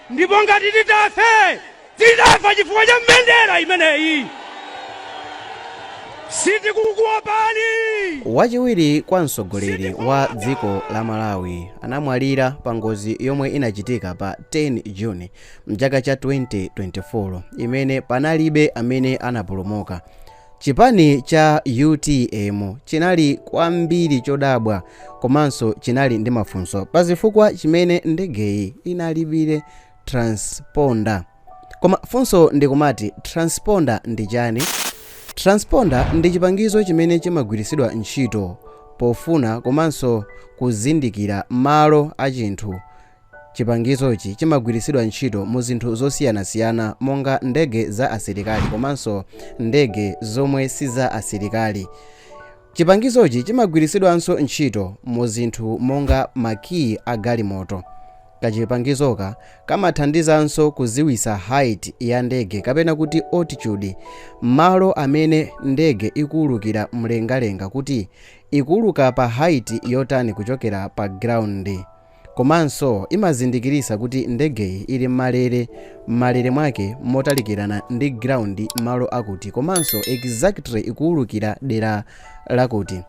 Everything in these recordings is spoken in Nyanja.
ndipo ngati titafe tidafa chifukwa cha mbendera imeneyi sitikukuopani wachiwiri kwa mtsogoleri wa dziko la malawi anamwalira pa ngozi yomwe inachitika pa 10 juni mchaka cha 2024 imene panalibe amene anapulumuka Chipani cha utm chinali kwambiri chodabwa komanso chinali ndi mafunso pa zifukwa chimene ndegeyi inalibire transponder. Koma funso ndikumati transponder ndi chani? Transponder ndi chipangizo chimene chimagwiritsidwa ntchito pofuna komanso kuzindikira malo a chinthu Chipangizochi chimagwiritsidwa ntchito mu zinthu zosiyanasiyana monga ndege za asilikali komanso ndege zomwe si za asilikali. Chipangizochi chimagwiritsidwanso ntchito mu zinthu monga makiyi a galimoto. Kachipangizoka kamathandizanso kudziwitsa height ya ndege kapena kuti altitude, malo amene ndege ikuulukira mlengalenga kuti ikuuluka pa height yotani kuchokera pa ground. Komanso imazindikiritsa kuti ndegeyi ili m'malere, m'malere mwake motalikirana ndi ground malo akuti komanso exactly ikuwulukira dera lakuti.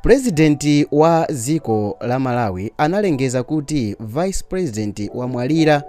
President wa dziko la Malawi analengeza kuti vice president wamwalira.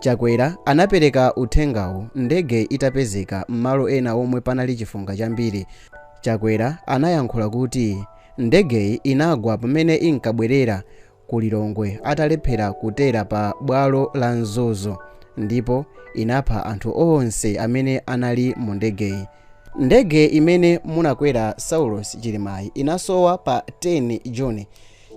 Chakwera anapereka uthengawu ndege itapezeka m'malo ena omwe panali chifunga chambiri. Chakwera anayankhula kuti ndegeyi inagwa pamene inkabwerera ku Lilongwe atalephera kutera pa bwalo la Mzuzu ndipo inapha anthu onse amene anali mu ndegeyi. Ndege imene munakwera Saulos Chilimayi inasowa pa 10 June.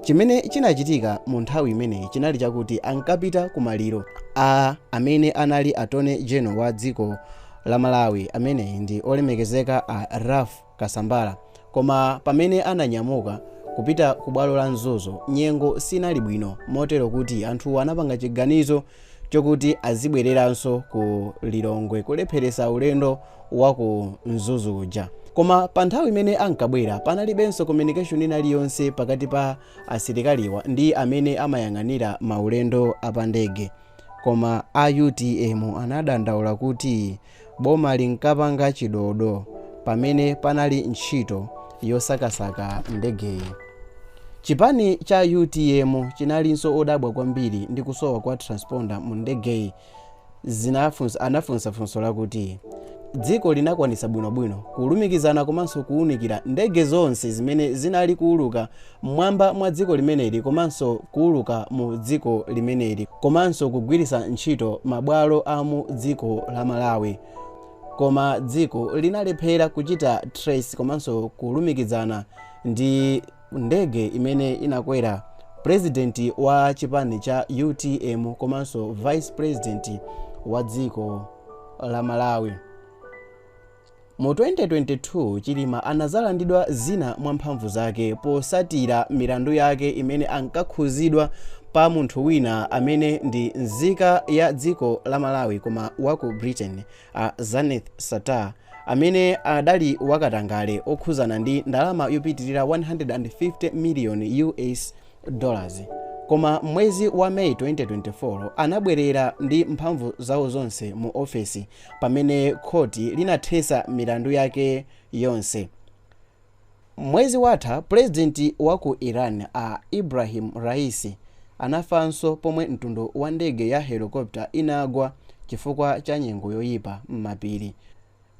Chimene chinachitika mu nthawi imeneyi chinali chakuti ankapita ku maliro a amene anali Attorney General wa dziko la Malawi ameneyi ndi olemekezeka a Ralph Kasambara koma pamene ananyamuka kupita ku bwalo la Mzuzu nyengo sinali bwino motero kuti anthu anapanga chiganizo chokuti azibwereranso ku Lilongwe kulepheretsa ulendo wa ku Mzuzu uja. Koma pa nthawi imene ankabwera panalibenso communication ina iliyonse pakati pa asilikaliwa ndi amene amayang'anira maulendo a pandege. Koma a utm anadandaula kuti Boma linkapanga chidodo pamene panali ntchito yosakasaka ndegeyi. Chipani cha utm chinalinso odabwa kwambiri ndi kusowa kwa transponder mu ndegeyi zinafunsa, anafunsa funso lakuti dziko linakwanitsa bwinobwino kulumikizana komanso kuunikira ndege zonse zimene zinali kuuluka m'mwamba mwa dziko limeneli komanso kuuluka mu dziko limeneli komanso kugwiritsa ntchito mabwalo a mu dziko la malawi koma dziko linalephera kuchita trace komanso kulumikizana ndi ndege imene inakwera purezidenti wa chipani cha utm komanso vice purezidenti wa dziko la malawi Mu 2022, Chilima anazalandidwa zina mwa mphamvu zake posatira milandu yake imene ankakhuzidwa pa munthu wina amene ndi nzika ya dziko la Malawi koma wa ku Britain, a Zuneth Sattar, amene adali wa katangale okhuzana ndi ndalama yopitirira 150 million US dollars. Koma mwezi wa May 2024, anabwerera ndi mphamvu zawo zonse mu ofesi. pamene khoti linathetsa milandu yake yonse. Mwezi watha, pulezidenti wa ku Iran a Ebrahim Raisi anafanso pomwe mtundu wa ndege ya helokopita inagwa chifukwa cha nyengo yoyipa m'mapiri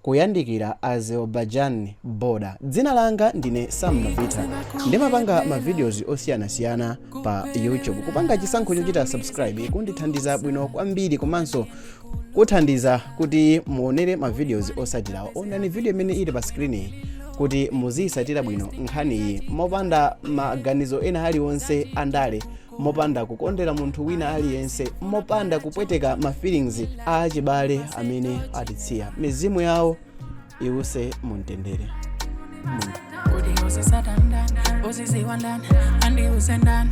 kuyandikira Azerbaijan border. Dzina langa ndine Sam Mabitha. Ndimapanga ma videos osiyanasiyana pa YouTube. Kupanga chisankho chochita subscribe kundithandiza bwino kwambiri komanso kuthandiza kuti muonere ma videos osatirawa onani video imene ili pa screen kuti muziyisatira bwino nkhani iyi mopanda maganizo ena aliwonse andale mopanda kukondera munthu wina aliyense mopanda kupweteka ma feelings a achibale amene atitsiya mizimu yawo iwuse muntendere Mun- Kodi uzisata ndani, uziziwa ndani, andi use ndani.